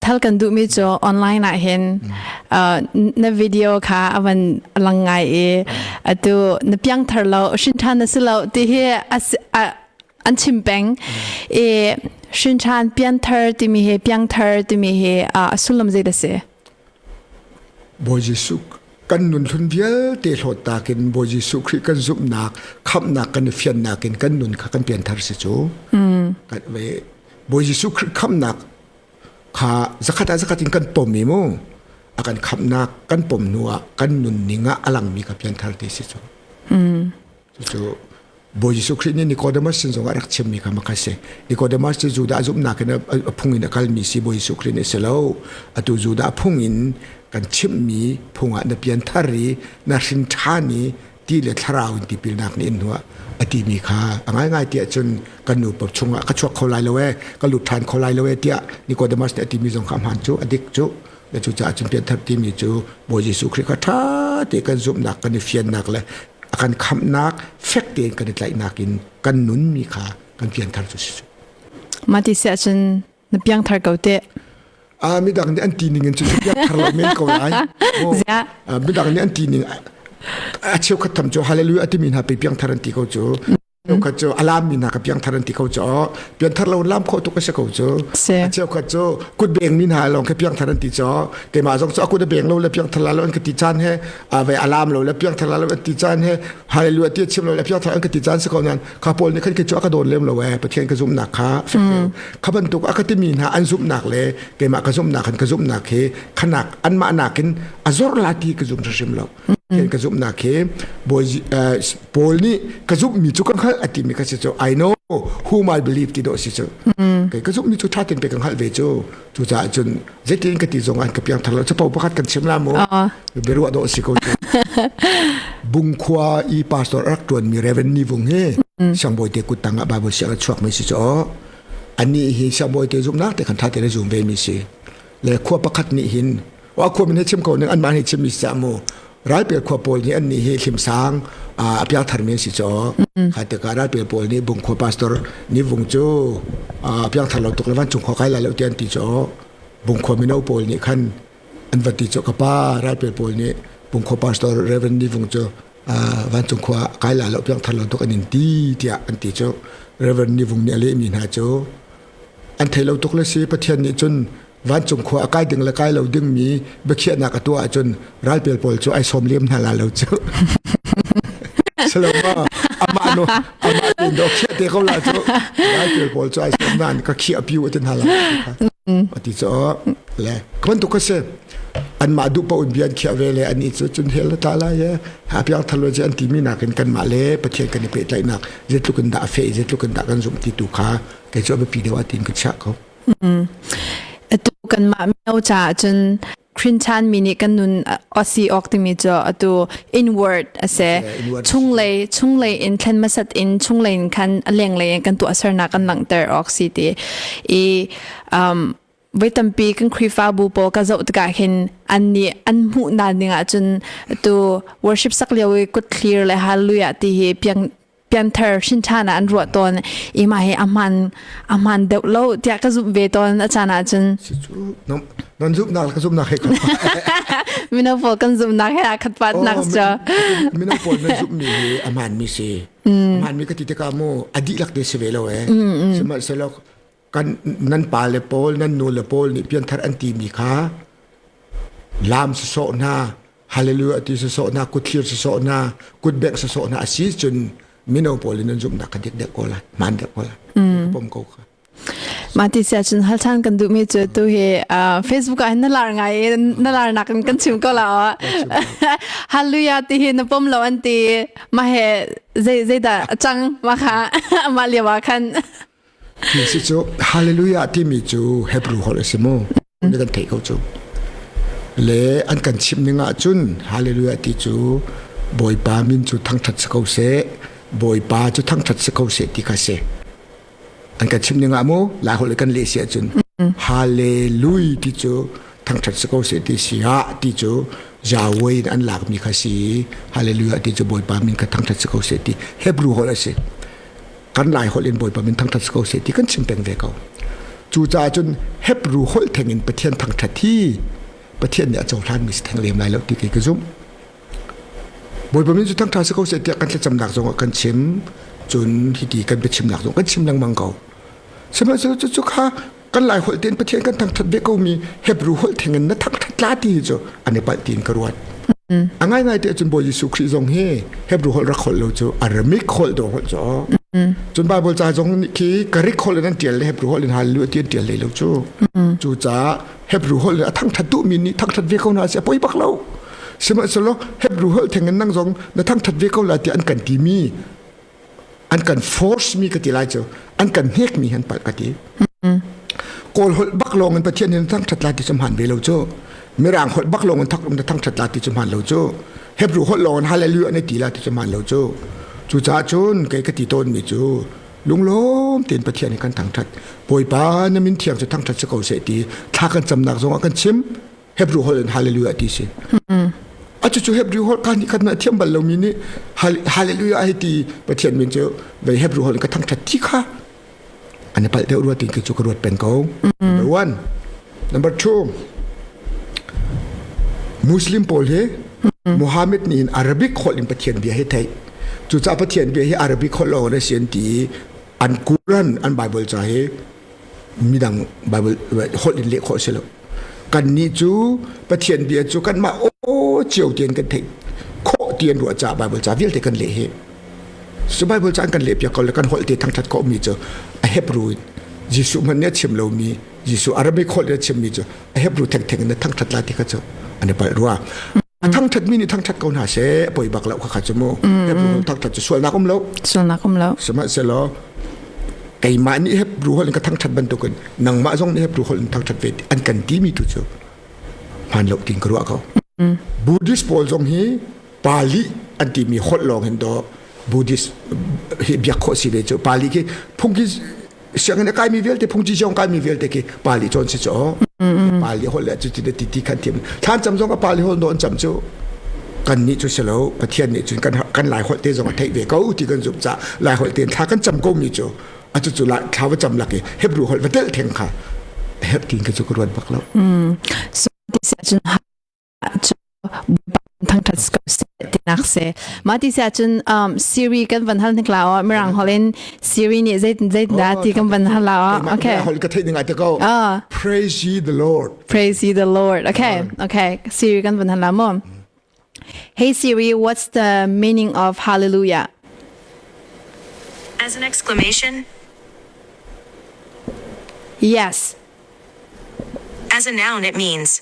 Thal kan duhmi cu online ah hin uh, na video kha avan lang ngai i atu na piang thar lo shin than na si lo ti hi an chim peng i shin than pian thar timi hi piang thar timi hi a sullam zei da se Boy Jesu kan nun hlun vialte hlawt takin Boy Jesu Khrih kan zumnak khamnak kan fiannak in kan nun kha kan pian thar si cu mm. kan ve Boy Jesu Khrih khamnak kha zakhat ah zakhat in kan pom i mu a kan khamnak kan pom hnu ah kan nunning ah a langmi ka pianthar ti si cu cucu Bawi Jesuh Khrih nih Nicodemus sin zong ah rak chimmi kha makha si Nicodemus cu Judah zumhnak in a phung in a kalmi si Bawi Jesuh Khrih nih si lo atu Judah phung in kan chimmi phung ah na pian thar i na hrin ṭhan i ti le thlarau in tipilnak nih in hnuah a timi kha a ngaingai tiah cun kan nupa chungah ka chuak kho lai lo e ka lut ṭhan kho lai lo e tiah Nicodemus nih a timi zong kha a hmaan cu a dik cu na cucaah cun pianthar timi cu Bawi Jesuh Khrih kha ṭha te kan zumhnak kan i fiannak le a kan khamhnak fek tein kan i tlaihnak in kan nunmi kha kan pianthar cu si cu mah ti siah cun Na piangthar ko teh. Ah midang nih an ti ning in cu piangthar lo men ko lai. Ziah. Midang nih an ti ning a cheu khat tham cu hallelujah ti mi hna pe piangthar an ti ko cu. Cheukhat cu alam mi hna ka piangthar an ti ko cu pianthar lo lam kho tu ka se ko cu a cheukhat cu kut beng mi hna long ka piangthar an ti cu te ma zong cu akut beng lo le piangthar la lo an ka ti chan he a vai alam lo le piangthar la lo an ti chan he hallelujah ti chim lo le piangthar an ka ti chan se ko nan kha paul nih khan cu a ka dawn lem lo e pathian ka zumnak kha fek kha bantuk a ka timi hna an zumnak le keimah ka zumnak khan ka zumnak hi khanak an mah nakin a zor la ti ka zum hrim lo pathian ka zumnak hi paul nih ka zummi cu kan hngalh a timi ka si cu i know whom i believe ti do si cu kai ka zummi cu thatin pe kan hngalh ve cu Cucaah cun zeitin ka ti zong an ka piang thar lo capo pakhat kan chim la mu biaruah dawh si ko bungkhua i pastor rak tuan mi reverend ni vung hi siangbawi te kuttang ah bible siang a chuak mi si cho ani hi siangbawi te zum nak te kan tha te le zum ve mi si le khua pakhat ni hin wa khua min chim ko ning an mah ni chim mi sa mu ral pe khua pawl ni an ni hi hlim sang a pya thar men si cho kha te ka ral pe pawl ni bung khua pastor ni vung chu a pya thar lo tuk lawan chung khua kai la lo tian ti cho bung khua min pawl ni khan an vati cho ka pa ral pe pawl ni bung khua pastor reverend ni vung chu van chung khua kai la lo pyang thar lo tuk anin ti tia an ti chu reverend ni vung ni ale mi na chu an thei lo tuk le si pathian ni chun vancung khua a kai ding le kai lo dingmi biakhiahnak a tuah ahcun ralpel pawl cu ai sawm liam hna la lo cu salama amah no amah tin do khia te ko la cu ralpel pawl cu ai sawm nan ka khia piu tin hala ati cho le kaman tu ka se an ma du pa un bian khia ve le ani chu chun hel ta la ye ha pyar thalo je an ti mi nakin kan ma le pathian kan pe tlai nak je tlukin da fe je tlukin da kan zum ti tu kha ke cho be pi dewa tin ka cha ko atu kanmah mino caah cun Khrinchan mi nih kan nun osi ok timi cu atu inward ase chunglei chunglei in thlen masat in chunglei in khan lenglei in kan tu asarnak kan langter ok si ti i um voi tampi kan khrifa bu po ka zo tika hin an ni an mu na ding ah cun tu worship sak lio i kut thlir le hallelujah ti hi piang pianthar hrinṭhan ah an ruah tawn i mah hi a hman a hman deuh lo tiah ka zumh ve tawn a caan ah cun nan zumhnak le ka zumhnak he mino pawl kan zumhnak he aa khat pat nak cu mino pawl nan zumhmi hi a hmanmi si a hmanmi ka ti tikah mu a dihlak te si ve lo e sihmanhsehlaw kan nan pa le pawl nan nu le pawl nih pianthar an ti mi kha lam sasawh hna hallelujah ti sasawh hna kuthlir sasawh hna kutbek sasawh hna asi cun mino pawl in nan zumh na ka dik dek ko la man dek ko la pom ko kha mah ti sia chun hal than kan du mi chu tu hi facebook ah na lar ngai na lar nak in kan chim ko la hallelujah ti hi na pom lo an ti ma he zai zai da chang ma kha ma liawa khan Hi cu Hallelujah timi cu Hebrew holh a si maw? Ni kan theih ko cu. Le an kan chimh ning ah cun Hallelujah ti cu Bawipa min cu thangṭhat si ko seh, Bawipa cu thangṭhat si ko seh ti kha si. An kan chimh ning ah mu Lai holh kan leh si ahcun Hallelujah ti cu thangṭhat si ko seh ti si ah ti cu Yahweh in an lakmi kha si i Hallelujah ti cu Bawipa min kha thangṭhat si ko seh ti Hebrew holh a si. kan lai holh in bawipa min thangthat ko se ti kan chim peng ve ko cu ca cun hebru holh theng in pathian thangthat hi pathian nih a cohlan mi si theng lem lai lo ti ke ka zumh bawipa min cu thangtha si ko se tiah kan thlacamnak zong kan chim cun hiti kan biachimnak zong kan chim lengmang ko sihmanhsehlaw cu cu kha kan lai holh ten pathian kan thangthat ve ko mi hebrew holh theng in na thangthat la ti chu ane pal tin ka ruat a ngai ngai te cun bo Jesu Christ zong hi hebrew holh rak holh lo chu aramic holh do holh cho cun bible ca zong khi karik holh nan tial le hebrew holh in hal lu ti tial le lo chu chu ca hebrew holh a thangthat tu mi ni thangthat ve ko na se poi bak lo sima selo hebrew holh theng nang zong na thangthat ve ko la ti an kan ti mi an kan force mi ka ti lai cu an kan hnek mi han palh ka ti kawl holh bak lawng in pathian in thang ṭhat la ti samhan ve lo cu mirang holh bak lawng in thak in thang ṭhat la ti samhan lo cu hebrew holh lawng in hallelujah ne ti la ti samhan lo cu cu ca cun kei ka ti tawn mi cu lunglawm tein pathian in kan thang ṭhat bawipa na min thiang cu thang ṭhat si ko se ti thla kan camnak zong ah kan chim Hebrew holh in hallelujah ti si. Cucu Hebrew holh ka ni khat na thiam bal lomi nih hallelujah ai ti Pathian min cu ve Hebrew holh in ka thangthat ti kha ani pal deuh ruat in ki chu ka ruat pen ko. Number 1. Number 2. Muslim pawl hi Muhammad ni in Arabic holh in Pathian bia hi thei. Cu ca Pathian bia hi Arabic holh lo na sin ti an Quran an Bible ca hi midang Bible holh in leh khawh si lo kannih cu Pathian bia cu kanmah aw cio tian kan theih khawh tian ruah ca Bible ca vialte kan leh hi so Bible ca kan leh piak ko le kan holh te thangthat ko mi cu a Hebrew Jesuh man ne chim lo mi Jesuh Arabic holh ne chim mi cu a Hebrew theng theng in thangthat la ti kha chu an i palh rua a thangthat mi nih thangthat ko hna se poi bak lo kha chu mu thangthat chu sualnak um lo sualnak um lo sihmanhsehlaw keimah nih hep ruhol in ka thangthat bantukin nangmah zong nih hep ruhol in thangthat ve an kan ti mi tu chu hman lo tin kruwa ko buddhist pawl zong hi pali an ti mi holh lawng hin do buddhist hi biak kho si ve chu pali khi phung hi sianginn a kaimi vialte phungci zong kaimi vialte ki pali cawn si caw pali hol le cu ti ti ti khan thiam thlan cam zong a pali hol non cam cu kan ni cu silo pathian nih cun kan kan lai holte zong a thei ve ko ti kan zumh ca lai holte thla kan cam ko mi cu a cu cu la thla va cam laki hebru hol va tel theng kha heb tin ka chu ka ruan bak lo so this cun thangthat tinak se ma ti se cun um siri kan van hal nikla o mirang holin siri ni zai zai da ti kan van hal la okay hol ka thei dinga te ko praise ye the lord praise ye the lord okay okay siri kan van hal la mo hey siri what's the meaning of hallelujah as an exclamation yes as a noun it means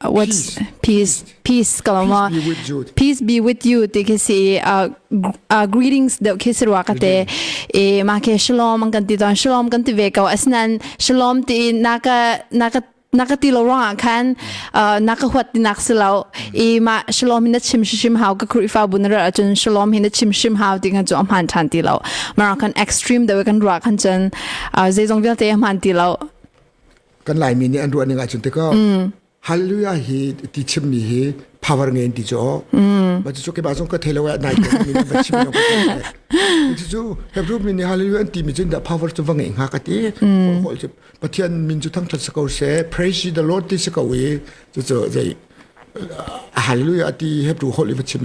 What's peace? Peace kalama. Peace be with you ti khi si uh, uh, greetings deuh khi si ruwa kate e ma ke shalom an kan ti ton shalom kan ti ve ko asnan shalom ti naka naka naka ti lo rong khan naka huat ti nak silo i ma shalom hin chim shim hau ka khruifa bun ra chun shalom hin chim shim hau ti nga jo man than ti lo mara kan extreme da kan ruwa khan chun zeizong vialte man ti lo kan laimi nih an ruah ning ahcun tikah hallelujah hi ti chimmi hi power nge in ti cu ma cu ke ba zong ka thei lo nai ke ni va chim lo ti cu hebrew mi nih hallelujah an ti mi cun da power cu va nge nga ka ti hol cu pathian min cu thang that sakau se praise the lord ti sakau i cu cu zei hallelujah ti hebrew hol i va chim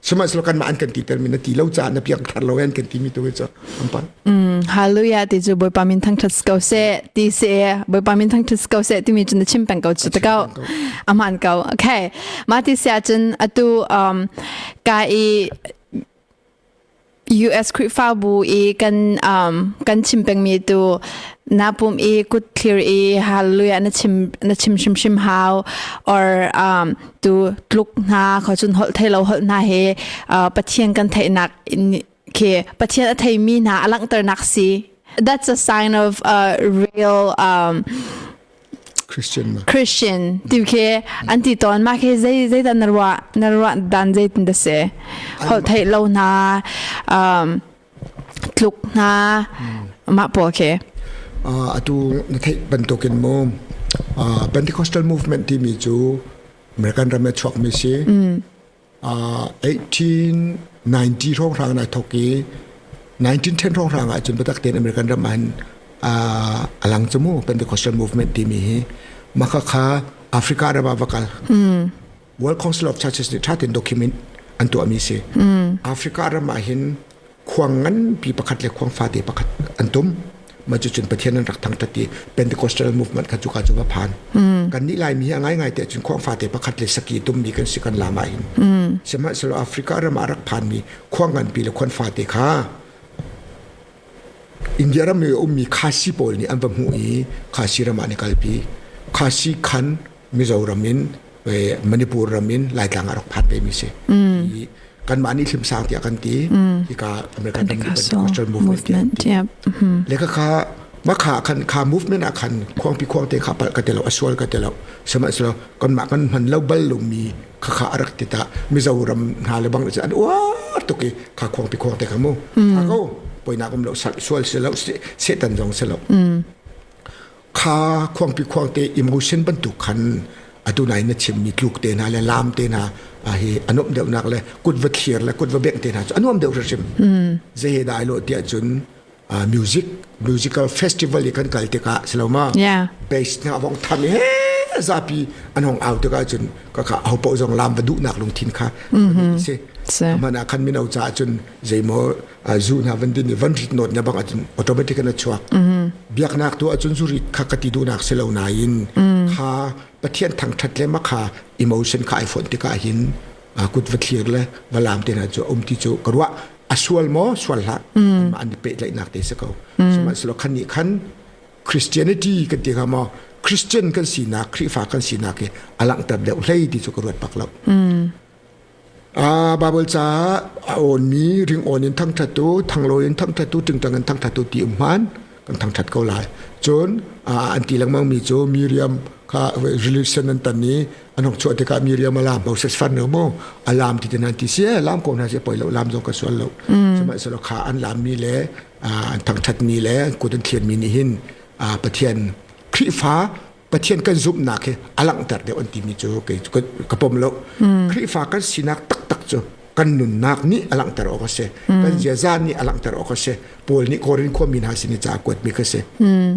sihmanhsehlaw kanmah an kan titer mi na ti lo caah na piang thar lo an kan ti mi tu hi cu an pang mm hallelujah ti chu boipa min thang thas ko se ti se boipa min thang thas ko se ti mi chu na chim peng ko chu ta ko aman ko okay ma ti sia chun atu um ka i US Khrihfabu i kan um, kan chim pengmi tu na pum i kut thlir i hallelujah na chim na chim hrimhrim hau or um, tu tluk hna kho chun hol thei lo hol hna he uh, pathian kan theihnak khi pathian a thei mi hna a langhternak si that's a sign of a real um, Christian tu khi an ti ton ma khi zei zei dan na ruah na ruah dan zei tin da se hol thei lo na um tluk na ma po khi atu na thei bantukin mu Pentecostal movement ti mi cu American ram e chuak mi si 1890 hrawnghrang ah ai thawk i 1910 hrawnghrang ahcun biatak tein American ram ah a lang cu mu Pentecostal movement timi hi maka kha Africa ram ah va kal World Council of Churches nih thatin document an tuahmi si Africa ram ah hin khuang nganpi pakhat le khuang fate pakhat an tum man cu cun pathian an rak thang tat i pentecostal movement kha cuka cu va phan mm. kan nih laimi hi a ngai ngai te cun khuang fate pakhat le saki tummi kan si kan lama hin mm. sihmanhsehlaw africa ram ah rak phanmi khuang nganpi le khuan fate kha india ram i ummi khasi pawl nih an va hmuh i khasi ram ah ni kalpi khasi khan Mizoram in Manipur ram in Laitlang ah rak phat ve mi si. I kanmah nih hlimsang tiah kan ti. Hika American Agricultural Movement tiah. Le ka kha ma kha kan kha movement ah khan khuang pi khuang te kha pal ka te lo asual ka te lo sema selo kon ma kan man lo bal lu mi kha kha arak ti ta mizoram na le bang an wa tuki kha khuang pi khuang te ka mu ka ko poina kom lo sual se lo setan zong se lo kha khuangpi khuang te imrusen bantuk khan adunai na chimmi tluk te hna le lam te hna hi anom deuhnak le kut va thlir le kut va bengh te hna cu anuam deuh hrim ze he dai lo tiah cun music musical festival i kan kal tikah siloma bass hna vong tham he zapi anong au tikah cun ka ka ho po zong lam va duhnak lungthin kha si mana khan mino ca cun zeimaw ai zu hna van din i van rit not nya bang acun automatic an chuak biaknak tu acun zuri kha ka ti dunak si lo nain kha pathian thang that le ma kha emotion kha ai phone tika hin a kut va thlir le va lam te na chu um ti chu karwa asual mo sual hla ma an pe lai nak te se ko sima slo khan ni khan christianity kan ti ka mo christian kan si na khrifa kan si na ke alang tab deu hlei ti chu ka ruat pak lo Baibal caah a awnmi ringawn in thangṭhattu, thanglawi in thangṭhattu, ṭingṭang in thangṭhattu ti um hmaan kan thangṭhat ko lai. Cun an ti lengmangmi cu Miriam kha religion an tan i an hong chuah tikah Miriam a laam Moses fan lo maw a laam ti tinan ti si ee laam ko hna si poi lo laam zong ka sual lo sihmanhsehlaw kha an laammi le an thangṭhatmi le an kut an thlianmi nih hin Pathian Khrihfa Pathian kan zumhnak hi a langhter deuh an timi cu ka pom lo. Mm. Khrihfa kan sinak taktak cu kan nunnak nih a langhter awk a si. Mm. Kan ziaza nih a langhter awk a si. Paul nih Korin khuami hna sin i ca kuatmi ka si. Mm.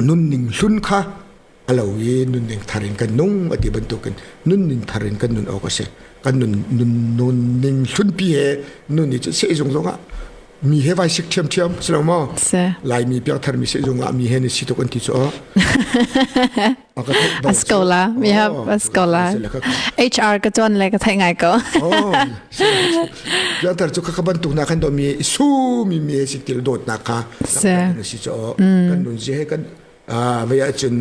Nunning hlun kha a lo i nunning thar in kan nung a ti bantukin nunning thar in kan nun awk a si. Kan nun nun hlunpi he nun i cu sehzung zongah mi he vai sik thiam thiam si lo maw laimi piangthar mi se zung ah mi he ni si tuk an ti cu a scola mi have a scola hr ka chuan le ka thai ngai ko piangthar cu ka ban tuk na kan do mi su mi mi si til dot na ka kan si cho kan nun je kan vaya cun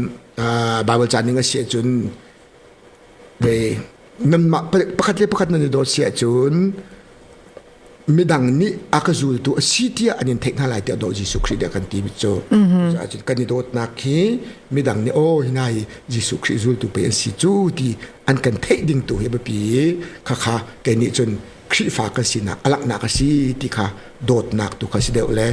bible chaning a se cun Nanmah pakhat le pakhat nan i dawt si ahcun midang nih a ka zultu a si tiah an in theih hna lai tiah daw Jesuh Khrih dah kan ti cu. Cucun kan i dawtnak hi midang nih aw hi nai Jesuh Khrih zultu pei an si cu ti an kan theih ding tu hi a biapi i khakha kei nih cun Khrihfa kan sinak a laknak a si ti kha dawtnak tu kha si deuh le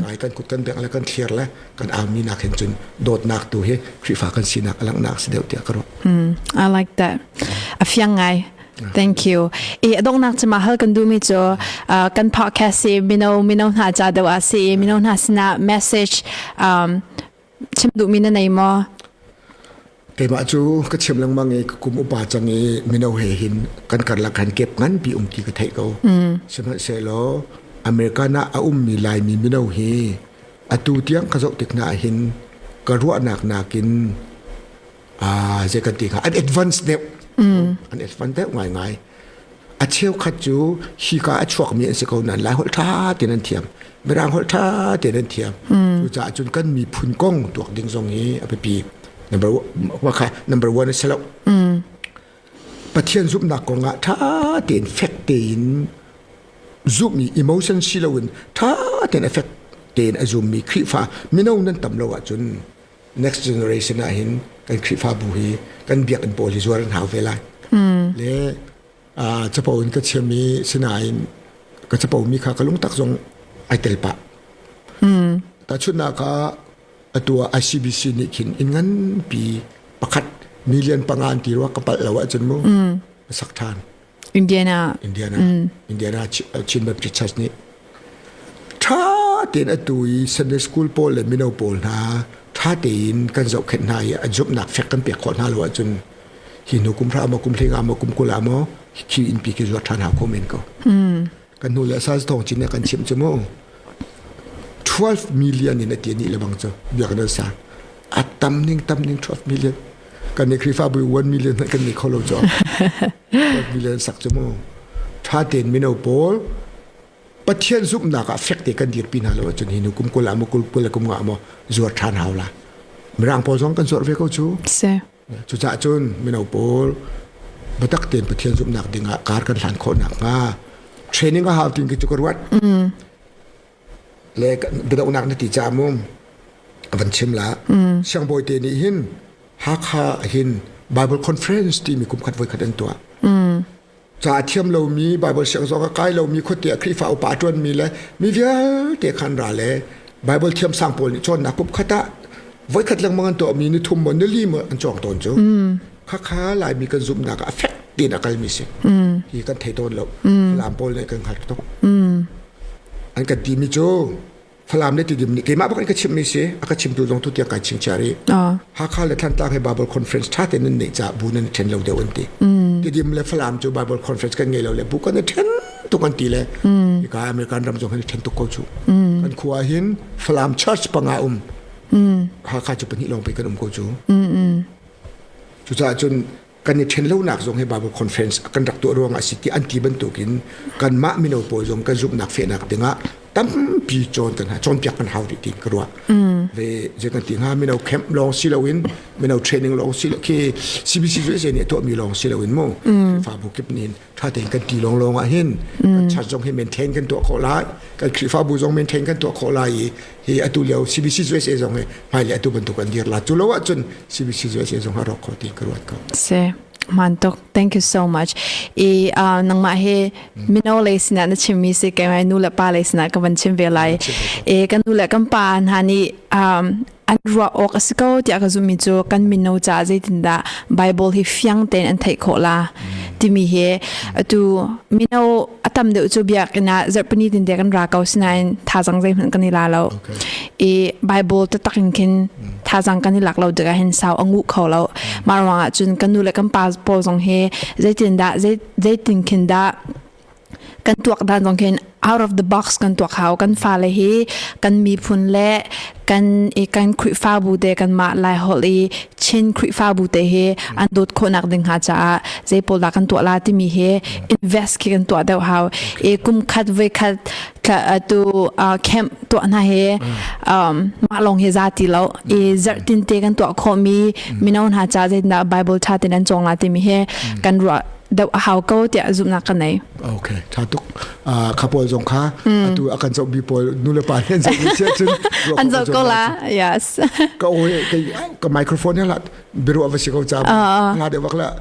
ngai kan kut kan bek le kan thlir le kan army nak hin cun dawtnak tu hi Khrihfa kan sinak a laknak si deuh tiah ka ruah. I like that. A fiang ngai. Thank you. I donghnak cuma hal kan du mi cu kan podcast si mino mino hna cha deuh a si mino hna sina message um Chim duhmi na nei maw? Keimah cu ka chim lengmang i ka kum upa cang i mino he hin kan karlak khan kep nganpi um ti ka theih ko. Sihmanhsehlaw American ah a ummi Laimi mino hi atu tiang ka zoh tik na ah hin ka ruahnak nakin ah zei kan ti kha an advance deuh an advance deuh ngai ngai a cheu khat cu hi ka a chuak mi an si ko nan lai hol tha te nan thiam mirang hol tha te nan thiam cu ca cun kan mi phun kong tuak ding zong hi a pipi number wa kha number one a selo pathian zumnak kong ah tha tein fact tein zoom mi emotion si lo in tha tein effect tein a zoom mi khrifa mino nan tam lo ah cun next generation ah hin kan Khrihfabu hi kan biakinn pawl hi zuar an hau ve lai le capo in ka chiam i sinain ka capo mi kha ka lungtak zong ai tel pah tahchunhnak kha atu ah ICBC nih khin inn nganpi pakhat million panga an ti rua ka palh lo ahcun mu sak ṭhan Indiana. Indiana. Mm. Indiana Chin Baptist Church nih ṭha tein a tu i Sunday school pawl le mino pawl hna ṭha tein kan zohkhenh hna i a zumhnak fek kan pek khawh hna lo ahcun hi hnu kum hra maw kum hlinga maw kum kula maw khi innpi ke zuat ṭhan ha ko men ko. Mm. kan hnu le sa thong chin kan chim chu mu 12 million in ati ni lebang chu biak na sa atam ning tam ning 12 million kan ne krifa bu 1 million kan ni kholo cho 12 million sak chu mu tha ten mino pol pathian zup na ka fek te kan dir pina lo chun hi nu kum kul amu kul kul kum nga mo zuar than hawla mirang pol song kan sor ve ko chu Cucah cun mino pawl biatak tein Pathian zumhnak dingah kar kan hlan khawh nakhnga training a hau ting khi cu ka ruat. Mm. Le biadohnak na ti ca mum a van chim la. Mm. Siangbawi te nih hin Hakha hin Bible conference timi kum khat voi khat an tuah. Mm. ca a thiam lomi Baibal siang zong a kai lomi khuate ah Khrihfa upa a ṭuanmi le mi vialte kha an ra le Baibal thiamsang pawl nih cawnnak kupkhat ah voikhat lengmang an tuahmi ni thum maw nili maw an cawng tawn cu khakha Laimi kan zumhnak ah a fek tiin a kalmi si hi kan thei tawn lo Falam pawl nih kan hngalh tuk an kan timi cu Falam le tidim ni keimah bak in ka chimmi si a ka chimtu zong tu tiang kai chim cha ri Hakha le Thlantlang he Bible conference ṭha tein nan neih ca bu nan ṭhen lo deuh an ti tidim le Falam cu Bible conference kan ngei lo le bu kan i ṭhen tuk an ti le ika American ram zong kan i ṭhen tuk ko cu kan khua hin Falam church panga um Hakha cu pahnih lawng pe kan um ko cu cucaah cun kan i ṭhen lonak zong hi Bible conference kan rak tuah ruang a si ti an ti bantukin kanmah mino pawl zong kan zumhnak fehnak dingah tampi cawntan hna cawnpiak kan hau rih ti ka ruah ve zetan ti hnga mino camp lawng si loin mino training lawng si khi CBC cu nih a tuahmi lawng si loin mu fa bu kip nin thate kan ti long long ah hin chat zong hi maintain kan tuah khawh lai kan khrihfabu zong maintain kan tuah khawh lai i hi atu lio CBC USA zong hi hmai le atu bantuk an dir la chu lo ah cun CBC USA zong ha rawk kho ti ka ruat ko se mantok thank you so much i uh, nangma he mino le sina na chimmi se kai nu le pa le sina ka ban chim ve lai e kan nu le kan pa hna ni um an ruah awk a si ko tiah ka zummi cu kan mino caah zeitindah Bible hi fiang tein an theih khawh la timi hi atu mino a tam deuh cu biakinn ah zarhpini tin te kan ra ko sinain thazang zeihmanh kan i la lo i Bible te tak in khin thazang kan i lak lo tikah hin sau a ngu kho lo mah ruangah cun kan nu le kan pa pawl zong hi zeitin dah zeitin khin dah kan tuak dan zong khin out of the box kan tuak hau kan fale hi kan miphun le kan i kan khrihfabu te kan mah lai hol i chin khrihfabu te hi an dot khonak ding ha caah je pol da kan tuah la timi hi invest ki kan tuah deuh hau e kum khat ve khat tu camp tuah na he um ma long hi za ti lo e zar tin te kan tuah kho mi minoun ha cha je na bible tha ten an chong la timi he kan ru doh a hau ko tiah zumhnak ka nei. Okay, tha tuk. Uh, kha pawl zong kha mm. atu akan zoh bi pawl nu le pa nih zoh bi sia cun an zoh ko la. Yes. Ka oi ka ka microphone ya la biru va si ko cha. Nga de wakla